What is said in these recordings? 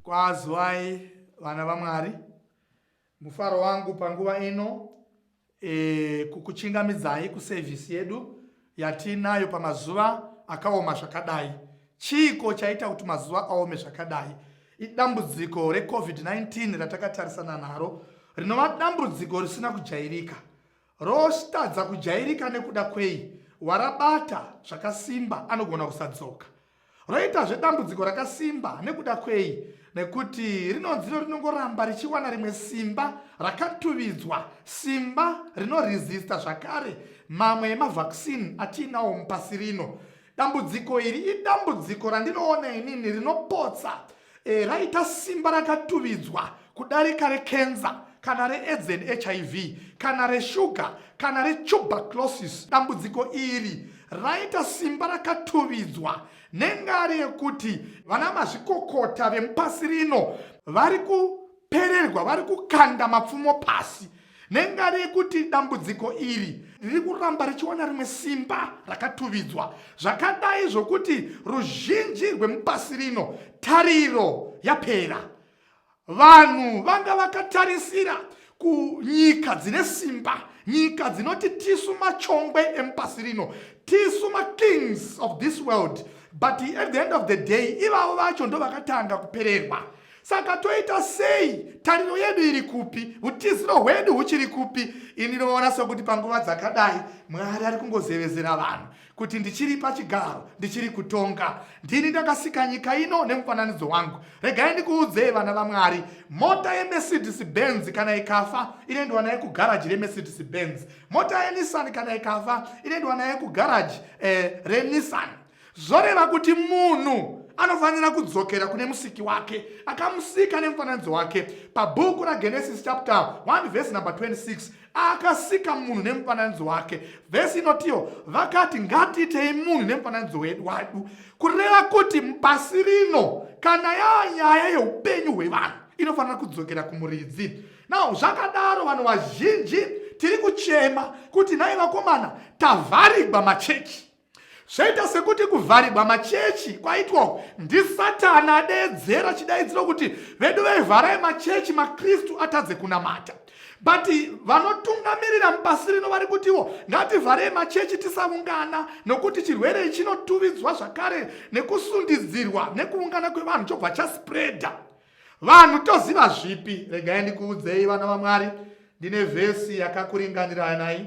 Kwazwai vana vaMwari, mufaro wangu panguva ino e, kukuchingamidzai kusevhisi yedu yatiinayo pamazuva akaoma zvakadai. Chiiko chaita kuti mazuva aome zvakadai? Idambudziko reCovid-19 ratakatarisana naro rinova dambudziko risina kujairika. Rositadza kujairika nekuda kwei warabata zvakasimba anogona kusadzoka. Roita zvedambudziko rakasimba nekuda kwei nekuti rinonziro rinongoramba richiwana rimwe simba rakatuvidzwa, simba rinoresista zvakare mamwe emavhaksini atiinawo mupasi rino. Dambudziko iri idambudziko randinoona inini rinopotsa E, raita simba rakatuvidzwa kudarika rekenza kana reaids and hiv kana reshuga kana retuberculosis dambudziko iri raita simba rakatuvidzwa nengari yekuti vana mazvikokota vemupasi rino vari kupererwa vari kukanda mapfumo pasi Nengari yekuti dambudziko iri riri kuramba richiwana rimwe simba rakatuvidzwa zvakadai zvokuti ruzhinji rwemupasi rino tariro yapera. Vanhu vanga vakatarisira kunyika dzine simba, nyika dzinoti tisu machongwe emupasi rino, tisu makings of this world, but at the end of the day ivavo vacho ndovakatanga kupererwa. Saka toita sei? Tariro yedu iri kupi? Utiziro hwedu huchiri kupi? Ini ndinoona sokuti panguva dzakadai Mwari ari kungozevezera vanhu kuti ndichiri pachigaro, ndichiri kutonga. Ndini ndakasika nyika ino nemufananidzo wangu. Regai ndikuudzei vana vaMwari, mota yeMercedes Benz kana ikafa inoendwa nayo kugaraji reMercedes Benz. Mota yeNissan kana ikafa inoendwa nayo kugaraji eh, reNissan. Zvoreva kuti munhu anofanira kudzokera kune musiki wake akamusika nemufananidzo wake pabhuku ragenesis chapter 1 vhesi number 26 akasika munhu nemufananidzo wake vhesi inotiwo vakati ngatiitei munhu nemufananidzo wedu wadu kureva kuti pasi rino kana yava nyaya yeupenyu hwevanhu inofanira kudzokera kumuridzi nao zvakadaro vanhu vazhinji tiri kuchema kuti nhai vakomana tavharigwa machechi Zvaita sekuti kuvharirwa machechi kwaitwa ndisatani adeedzera chidaidziro kuti vedu vevharai machechi makristu atadze kunamata but vanotungamirira mupasi rino vari kutiwo ngativharei machechi tisaungana nokuti chirwere chinotuvidzwa zvakare nekusundidzirwa nekuungana kwevanhu chobva chaspreada vanhu toziva zvipi regai ndikuudzei vana vamwari ndine vhesi yakakuringaniranai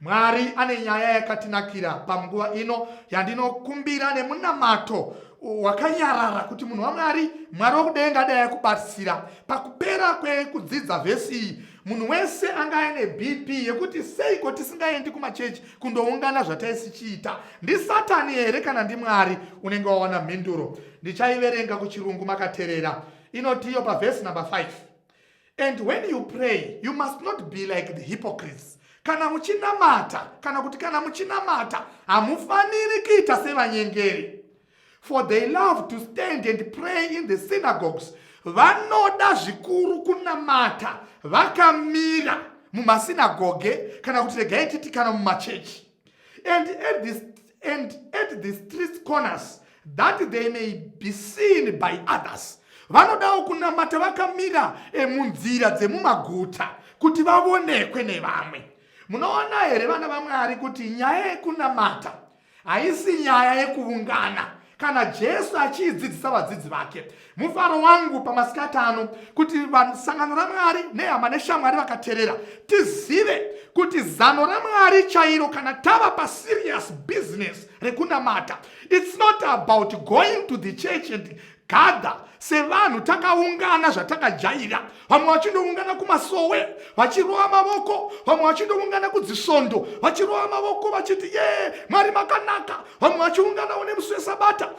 Mwari ane nyaya yakatinakira panguva ino yandinokumbira nemunamato wakanyarara kuti munhu waMwari, Mwari wokudenga dai akubatsira. Pakupera kwekudzidza vhesi iyi, munhu wese anga aine BP yekuti seiko tisingaendi kumachechi kundoungana zvataisichiita. NdiSatani here kana ndiMwari? Unenge wawana mhinduro. Ndichaiverenga kuchirungu makaterera. Inotiyo pavhesi number 5. And when you pray, you must not be like the hypocrites. Kana muchinamata, kana kuti kana muchinamata, hamufaniri kuita sevanyengeri. For they love to stand and pray in the synagogues. Vanoda zvikuru kunamata vakamira mumasinagoge kana kuti regai titi kana mumachechi. and at this and at the street corners that they may be seen by others vanodawo kunamata vakamira munzira dzemumaguta kuti vavonekwe nevamwe munoona here vana vamwari kuti nyaya yekunamata haisi nyaya yekuungana Kana Jesu achiidzidzisa vadzidzi vake, mufaro wangu pamasikati ano kuti sangano raMwari nehama neshamwari vakaterera tizive kuti zano raMwari chairo kana tava paserious business rekunamata, it's not about going to the church and gather sevanhu takaungana zvatakajaira vamwe vachindoungana kumasowe vachirova mavoko vamwe vachindoungana kudzisvondo vachirova mavoko vachiti yee mwari makanaka vamwe vachiunganawo nemusi wesabata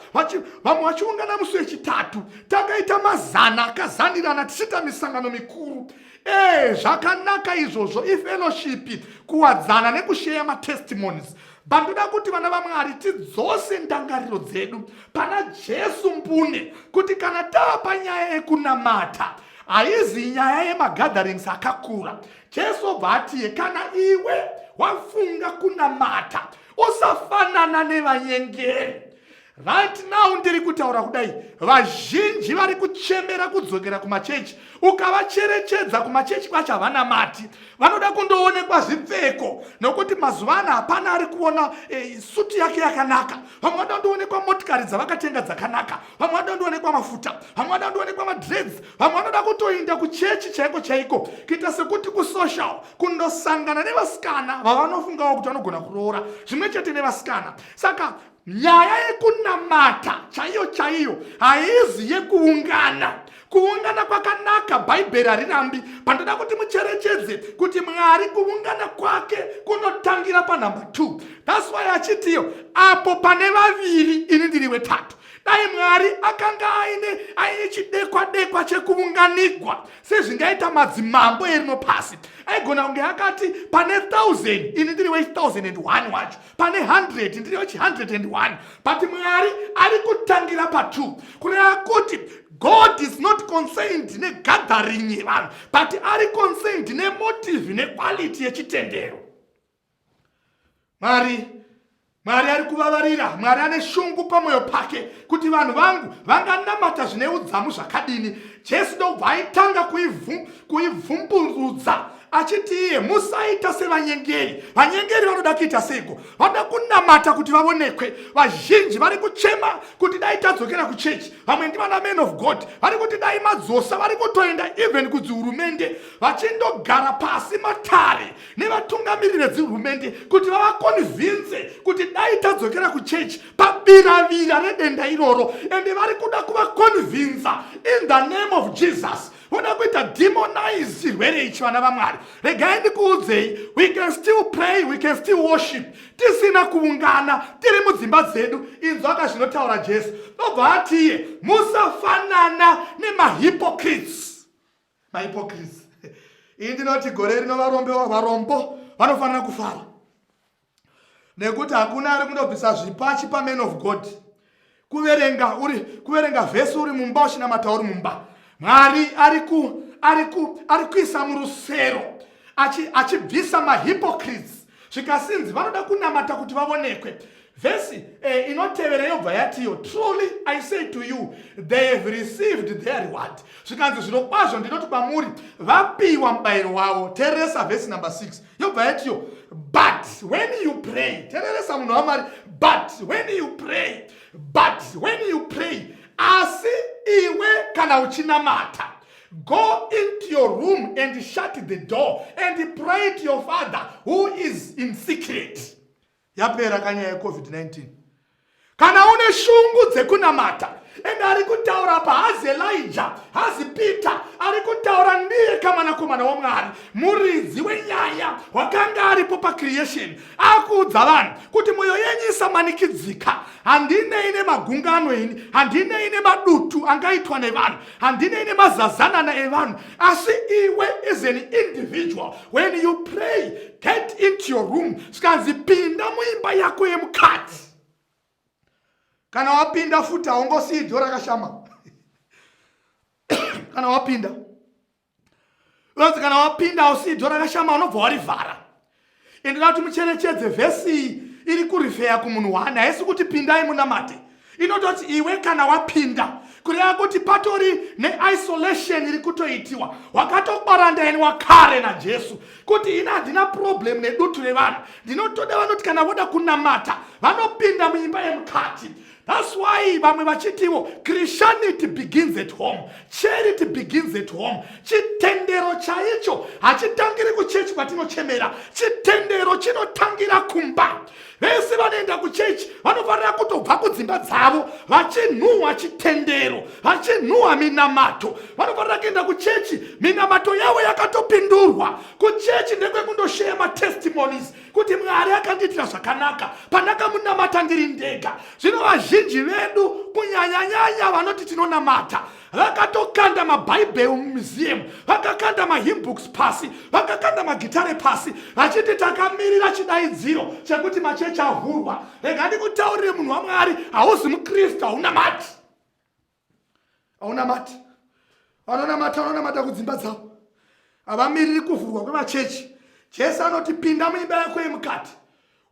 vamwe vachiungana musi wechitatu takaita mazana akazanirana tichiita misangano mikuru ee zvakanaka izvozvo ifellowship kuwadzana nekusheya matestimonies Bandoda kuti vana vaMwari tidzose ndangariro dzedu pana Jesu mbune kuti kana taapa nyaya yekunamata haizi nyaya yemagatherings akakura. Jesu obva atiye kana iwe wafunga kunamata usafanana nevanyengeri Right now ndiri kutaura kudai vazhinji vari kuchemera kudzokera kumachechi ukavacherechedza kumachechi kwacho havana mati vanoda kundoonekwa zvipfeko nokuti mazuva ano hapana ari kuona e, suti yake yakanaka vamwe vada kundoonekwa motikari dzavakatenga dzakanaka vamwe vada kundoonekwa mafuta vamwe vada kundoonekwa madreds vamwe vanoda kutoinda kuchechi chaiko chaiko kuita sekuti kusocial kundosangana nevasikana vavanofungawo kuti vanogona kuroora zvimwe chete nevasikana saka Nyaya yekunamata chaiyo chaiyo haizi yekuungana. Kuungana kwakanaka, Bhaibheri harirambi. Pandoda kuti mucherechedze kuti Mwari kuungana kwake kunotangira panhamba 2 thats why achitiyo apo pane vaviri ini ndiri wetatu dai mwari akanga aine aine chidekwa dekwa chekuunganigwa sezvingaita madzimambo erino pasi aigona kunge akati pane 1000 ini ndiri we 1001 wacho pane 100 ndiri wechi 101 but mwari ari kutangira pa 2 kureva kuti god is not concerned negathering yevanhu but ari concerned nemotive nequality yechitendero mwari mwari ari kuvavarira mwari ane shungu pamwoyo pake kuti vanhu vangu vanganamata zvine udzamu zvakadini jesu ndobva aitanga kuivhumburudza achiti iye musaita sevanyengeri vanyengeri vanoda kuita seiko vanoda kunamata kuti vavonekwe vazhinji vari kuchema kuti dai tadzokera kuchechi vamwe ndivana man of god vari kuti dai madzosa vari kutoenda even kudzihurumende vachindogara pasi matare nevatungamiri vedzihurumende kuti vavakonvinze kuti dai tadzokera kuchechi pabiravira redenda iroro ende vari kuda kuvakonvinza in the name of jesus unoda kuita demonize chirwere ichi vana vamwari regai ndikuudzei we can still pray we can still worship tisina kuungana tiri mudzimba dzedu inzwa ka zvinotaura jesu ndobva atiye musafanana nemahypocrites mahypocrites iyi ndinoti gore rino varombo vanofanira kufara nekuti hakuna ari kunobvisa zvipachi paman of god kuverenga uri kuverenga vhesi uri mumba uchinamata uri mumba mwari ari ku ari ku ari kuisa murusero achibvisa mahypocrites zvikasinzi vanoda kunamata kuti vavonekwe vhesi eh, inotevera yobva yatiyo truly i say to you they have received their reward zvikanzi zvinokwazvo ndinoti kwamuri vapiwa mubayiro wavo teresa vhesi number 6 yobva yatiyo but when you pray tereresa munhu wamwari but when you pray but when you pray asi iwe kana uchinamata go into your room and shut the door and pray to your father who is in secret Yapera ka nyaya yeCovid-19. Kana une shungu dzekunamata and ari kutaura apa hazi Elijah, hazi Peter, ari kutaura ndiye kamanakomana waMwari, muridzi wenyaya wakanga aripo pacreation, akuudza vanhu kuti mwoyo yenyu isamanikidzika. Handinei nemagungano ini, handinei nemadutu angaitwa nevanhu. handinei nemazazanana evanhu asi iwe is an individual when you pray get into your room sikanzi pinda muimba yako yemukati kana wapinda futi haungosiyi dho rakashama kana wapinda unonzi kana wapinda usi dho rakashama unobva warivhara ende nda kuti mucherechedze vhesi iyi iri kurifeya kumunhu wani haisi kuti pindai munamate inototi iwe kana wapinda kureva kuti patori neisolation iri kutoitiwa wakatokwarandayeni wakare najesu kuti ini handina problem nedutu revanhu ndinotoda vanoti kana voda kunamata vanopinda muimba yemukati That's why vamwe vachitiwo Christianity begins at home, charity begins at home. Chitendero chaicho hachitangiri kuchechi kwatinochemera, chitendero chinotangira kumba. Vese vanoenda kuchechi vanofanira kutobva kudzimba dzavo vachinhuhwa chitendero, vachinhuhwa minamato. Vanofanira kuenda kuchechi minamato yavo yakatopindurwa. Kuchechi ndekwekundoshaya matestimonies kuti mwari akandiitira zvakanaka pandakamunamata ndiri ndega zvino vazhinji vedu kunyanyanyanya vanoti tinonamata vakatokanda mabhaibheri mumuseum vakakanda mahimbooks pasi vakakanda magitare pasi vachiti takamirira chidaidziro chekuti machechi avhurwa rega ndikutaurire munhu wamwari hauzi mukristu haunamati aunamati vanonamata vanonamata kudzimba dzavo havamiriri kuvhurwa kwemachechi jesu anoti pinda muimba yako yemukati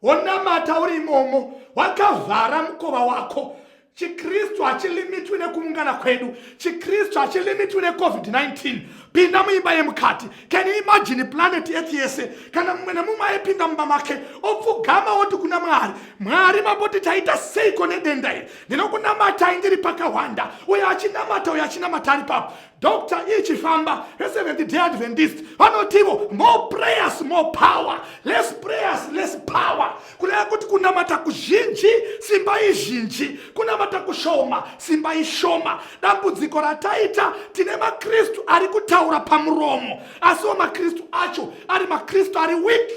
wonamata uri imomo wakavhara mukova wako chikristu hachilimitwi nekuungana kwedu chikristu hachilimitwi necovid-19 pinda muimba yemukati can you imagine planet earth yese kana mumwe nemumwe aipinda mumba make opfugama woti kuna mwari mwari mamboti taita seiko nedenda iri ndinokunamatai ndiri pakahwanda uyo achinamata uyo achinamata ari papo dr e chifamba reseventh day adventist vanotivo more prayers more power less prayers less power kureva kuti kunamata kuzhinji simba izhinji kunamata kushoma simba ishoma dambudziko rataita tine makristu ari kutaura pamuromo asiwo makristu acho ari makristu ari wiki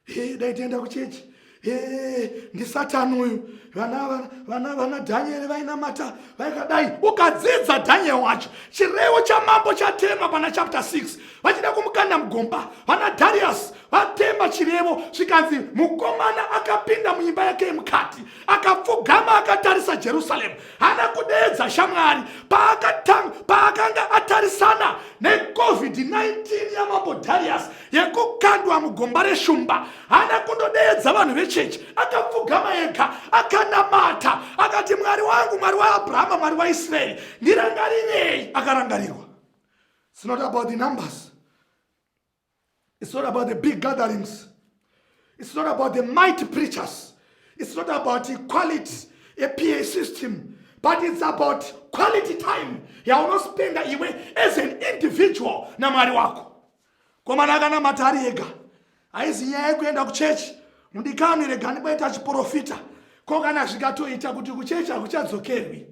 Hey, dai tienda kuchechi hey, ndisatani uyu vana, vana, vana dhanyeri vainamata vaikadai ukadzidza dhanyeri wacho chirevo chamambo chatemwa pana chapter 6 vachida kumukanda mugomba vana darius vatemba chirevo zvikanzi mukomana akapinda muimba yake yemukati akapfugama akatarisa jerusalemu hana kudeedza shamwari paakanga atarisana necovid-19 yamambo darius yekukandwa mugomba reshumba haana kundodeedza vanhu vechechi akapfugama ega akanamata akati mwari wangu mwari waabrahama mwari waisraeri ndirangarirei akarangarirwa its not about the numbers its not about the big gatherings its not about the might preachers its not about equality epa system but its about quality time yaunospenda iwe as an individual namwari wako Komana akanamata ari ega haizi nyaya yekuenda kuchechi mudikani regani kwaita chiporofita ko kana zvikatoita kuti kuchechi hakuchadzokerwi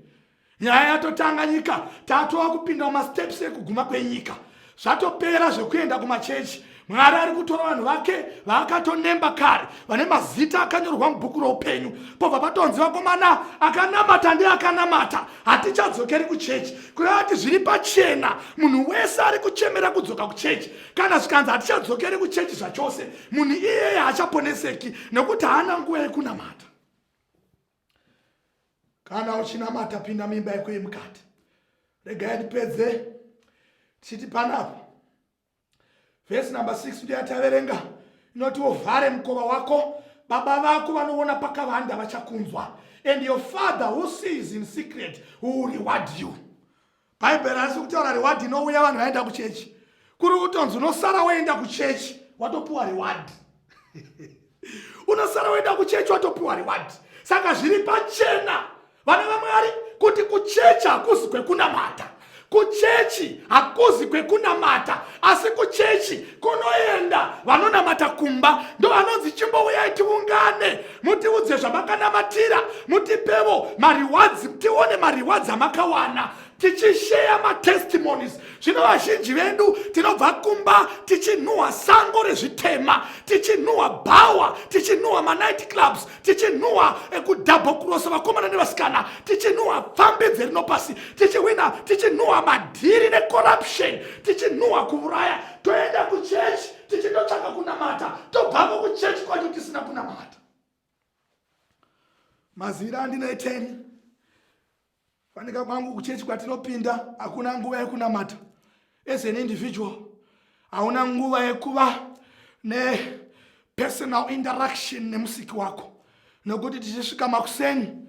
nyaya yatotanga nyika tatova kupinda mumasteps ekuguma kwenyika zvatopera zvekuenda kumachechi mwari ari kutora vanhu vake vaakatonemba kare vane mazita akanyorwa mubhuku roupenyu pobva patonzi vakomana akanamata ndeakanamata hatichadzokeri kuchechi kureva kuti zviri pachena munhu wese ari kuchemera kudzoka kuchechi kana zvikanzi hatichadzokeri kuchechi zvachose munhu iyeye haachaponeseki nekuti haana nguva yekunamata kana uchinamata pinda mimba yekuyi mukati regai ndipedze tichiti panapo vhesi number 6 ndiyo yataverenga inoti uvhare mukova wako baba vako vanoona pakavanda vachakunzwa and your father who sees in secret who reward you bhaibheri asi kutaura reward inouya vanhu vaenda kuchechi kuri kutonzi unosara woenda kuchechi watopiwa reward unosara woenda kuchechi watopiwa reward saka zviri pachena vana vamwari kuti kuchechi hakuzi kwekunamata kuchechi hakuzi kwekunamata asi kuchechi kunoenda vanonamata kumba ndo vanonzi chimbouyai tiungane mutiudze zvamakanamata mutipevo mariwadzi tione mariwadzi amakawana tichisheya matestimonies zvino vazhinji vedu tinobva kumba tichinhuhwa sango rezvitema tichinhuhwa bhawa tichinhuhwa manight clubs tichinhuhwa ekudhabho kurosa vakomana nevasikana tichinhuhwa pfambi dzerino pasi tichihwina tichinhuhwa madhiri necorruption tichinhuhwa kuuraya toenda kuchechi tichitotsvaka kunamata tobvako kuchechi kwacho tisina kunamata Mazira andine 10 fanika kwangu kuchechi kwatinopinda hakuna nguva yekunamata as an individual hauna nguva yekuva nepersonal interaction nemusiki wako nokuti tichisvika makuseni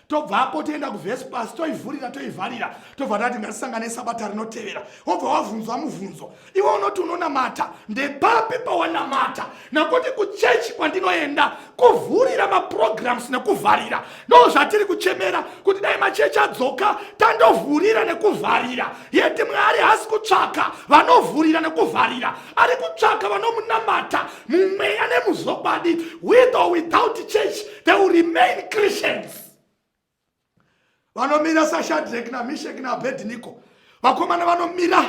tobvapo toenda kuvespasi toivhurira toivharira tobva tati ngasisangane sabata rinotevera wobva wavhunzwa muvhunzo iwe unoti unonamata ndepapi pawanamata nokuti kuchechi kwandinoenda kuvhurira maprograms nekuvharira ndo zvatiri kuchemera kuti dai machechi adzoka tandovhurira nekuvharira yeti mwari haasi kutsvaka vanovhurira nekuvharira ari kutsvaka vanomunamata mumweya nemuzokwadi with or without church they will remain christians vanomira sashadrek namishek naabedniko vakomana vanomira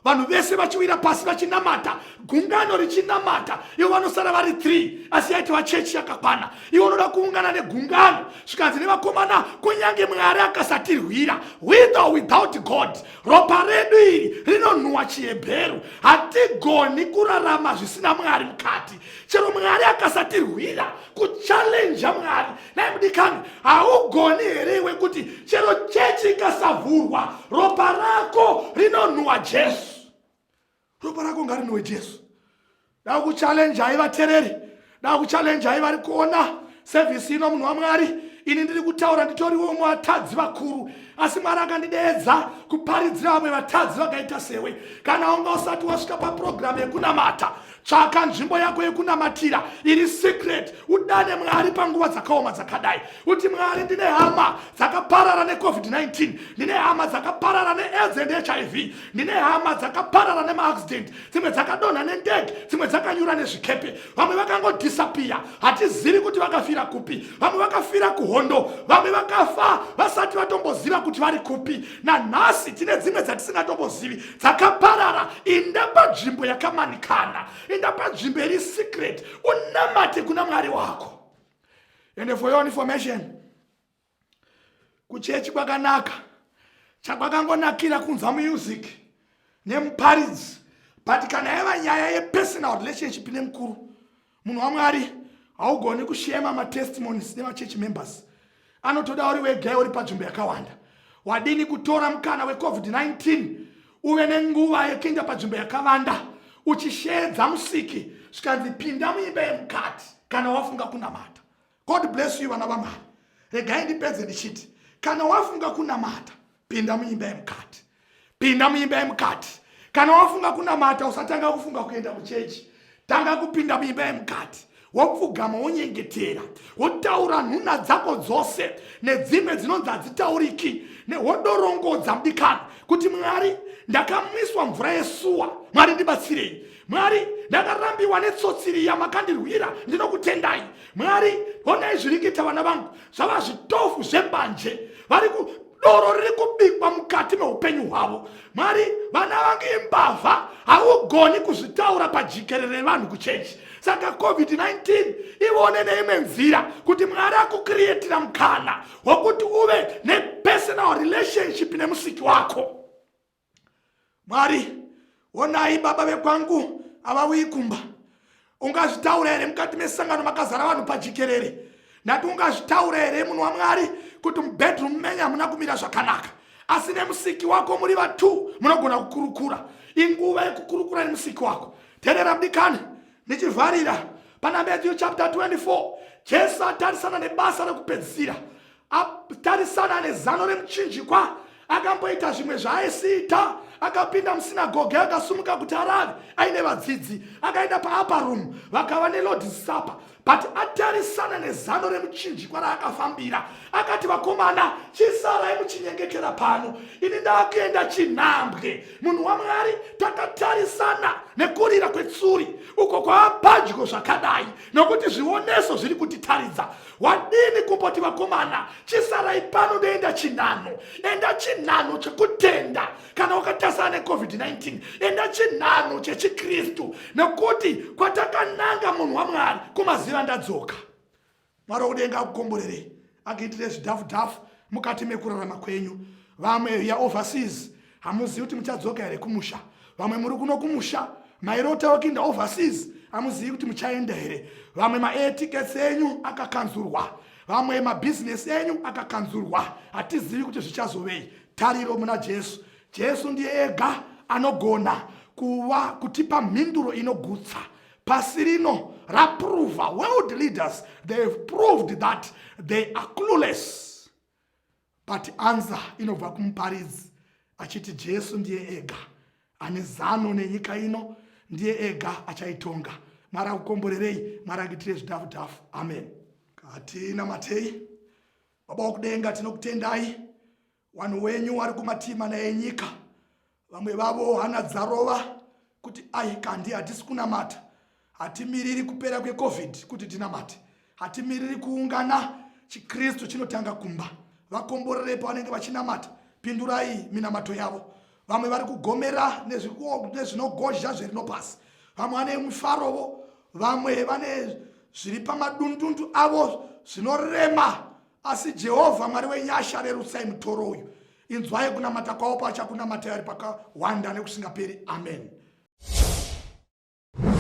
vanhu vese vachiwira pasi vachinamata gungano richinamata ivo vanosara vari three asi yaitova chechi yakakwana ivo unoda kuungana negungano zvikanzi nevakomana kunyange mwari akasatirwira with or without god ropa redu iri rinonhuwa chihebheru hatigoni kurarama zvisina mwari mukati chero mwari akasatirwira kuchalenja mwari naye mudikani haugoni here iwe kuti chero chechi ikasavhurwa ropa rako rinonhuwa jesu ropa rako ngarinhuwe jesu dakuchalenjai vatereri dakuchalenjai vari kuona Sevhisi ino munhu waMwari, ini ndiri kutaura nditoriwo umwe vatadzi vakuru, asi Mwari akandideedza kuparidzira vamwe vatadzi vakaita sewe. Kana unga usati wasvika papurogiramu yekunamata, tsvaka nzvimbo yako yekunamatira iri secret, udane Mwari panguva dzakaoma dzakadai, uti Mwari, ndine hama dzakaparara neCovid-19, ndine hama dzakaparara neAIDS and HIV, ndine hama dzakaparara nemaaccident, dzimwe dzakadonha nendege, dzimwe dzakanyura nezvikepe, vamwe vakangodhisapiya hatizivi kuti vakafira kupi vamwe vakafira kuhondo vamwe vakafa vasati vatomboziva kuti vari kupi nanhasi tine dzimwe dzatisingatombozivi dzakaparara inda panzvimbo yakamanikana inda panzvimbo iri secret unamate kuna mwari wako and for your information kuchechi kwakanaka chakwakangonakira kunzwa music nemuparidzi but kana yaiva nyaya yepersonal relationship nemukuru munhu wamwari haugoni kushema matestimonies nemachurch members anotoda uri wegaya uri panzvimbo yakawanda wadini kutora mukana wecovid-19 uve nenguva yekuenda panzvimbo yakavanda uchisheedza musiki zvikanzi pinda muimba yemukati kana wafunga kunamata God bless you vana vamwari regai ndipedze ndichiti kana wafunga kunamata pinda muimba yemukati pinda muimba yemukati kana wafunga kunamata usatanga kufunga kuenda kuchechi tanga kupinda muimba yemukati wopfugama wonyengetera wotaura nhuna dzako dzose nedzimwe dzinonzi hadzitauriki wodorongodza mudikano kuti mwari ndakamwiswa mvura yesuwa mwari ndibatsirei mwari ndakarambiwa netsotsi riya makandirwira ndinokutendai mwari honai zviri kuita vana vangu zvava zvitofu zvembanje vari doro riri kubikwa mukati meupenyu hwavo mwari vana vangu imbavha haugoni kuzvitaura pajikerere vanhu kuchechi saka covid-19 ivone neimwe nzira kuti mwari akukiriyetira mukana wokuti uve nepersonal relationship nemusiki wako mwari onai baba vekwangu avauyi kumba ungazvitaura here mukati mesangano makazara vanhu pajikerere ndati ungazvitaura here munhu wamwari kuti mubedroom menyu hamuna kumira zvakanaka asi nemusiki wako muri vatu munogona kukurukura inguva yekukurukura nemusiki wako terera mdikani ndichivharira pana matthew chapter 24 jesu atarisana nebasa rekupedzisira atarisana nezano remuchinjikwa akamboita zvimwe zvaaisiita akapinda musinagoge akasumuka kuti arave aine vadzidzi akaenda paapa room vakava nelord supper but atarisana nezano remuchinjikwa raakafambira akati vakomana chisarai muchinyengetera pano ini ndaakuenda chinhambwe munhu wamwari takatarisana nekurira kwetsuri uko kwaapadyo zvakadai nokuti zvioneso zviri kutitaridza wadini kumboti vakomana chisarai pano ndoenda chinhano enda chinhano chekutenda kana wakatasana necovid-19 enda chinhano chechikristu nekuti kwatakananga munhu wamwari kumaziva ndadzoka mwari wakudenga akukomborerei akuitire zvidhafu dhafu mukati mekurarama kwenyu vamwe ya overseas hamuzivi kuti muchadzoka here kumusha vamwe muri kuno kumusha mairotawo kuinda overseas hamuzivi kuti muchaenda here vamwe maair tickets enyu akakanzurwa vamwe mabhizinesi enyu akakanzurwa hatizivi kuti zvichazovei tariro muna jesu jesu ndiye ega anogona kuva kutipa mhinduro inogutsa pasi rino raprova world leaders they have proved that they are clueless But answer inobva kumuparidzi achiti Jesu ndiye ega ane zano nenyika ino, ndiye ega achaitonga. Mwari akukomborerei, Mwari akuitire zvidhafu dhafu. Amen. Katina matei Baba wokudenga, tinokutendai wanhu wenyu wari kumatima naye nyika vamwe vavo hana dzarova kuti ai kandi hatisi kunamata hatimiriri kupera kwecovid kuti tinamate hatimiriri kuungana chikristu chinotanga kumba vakomborerepo vanenge vachinamata pindurai minamato yavo vamwe vari kugomera nezvinogozha zverino pasi vamwe vane mufarovo vamwe vane zviri pamadundundu avo zvinorema asi jehovha mwari wenyasha rerutsai mutoro uyu Inzwai kunamata kwavo paachakunamatai ari pakawanda nekusingaperi. Ameni.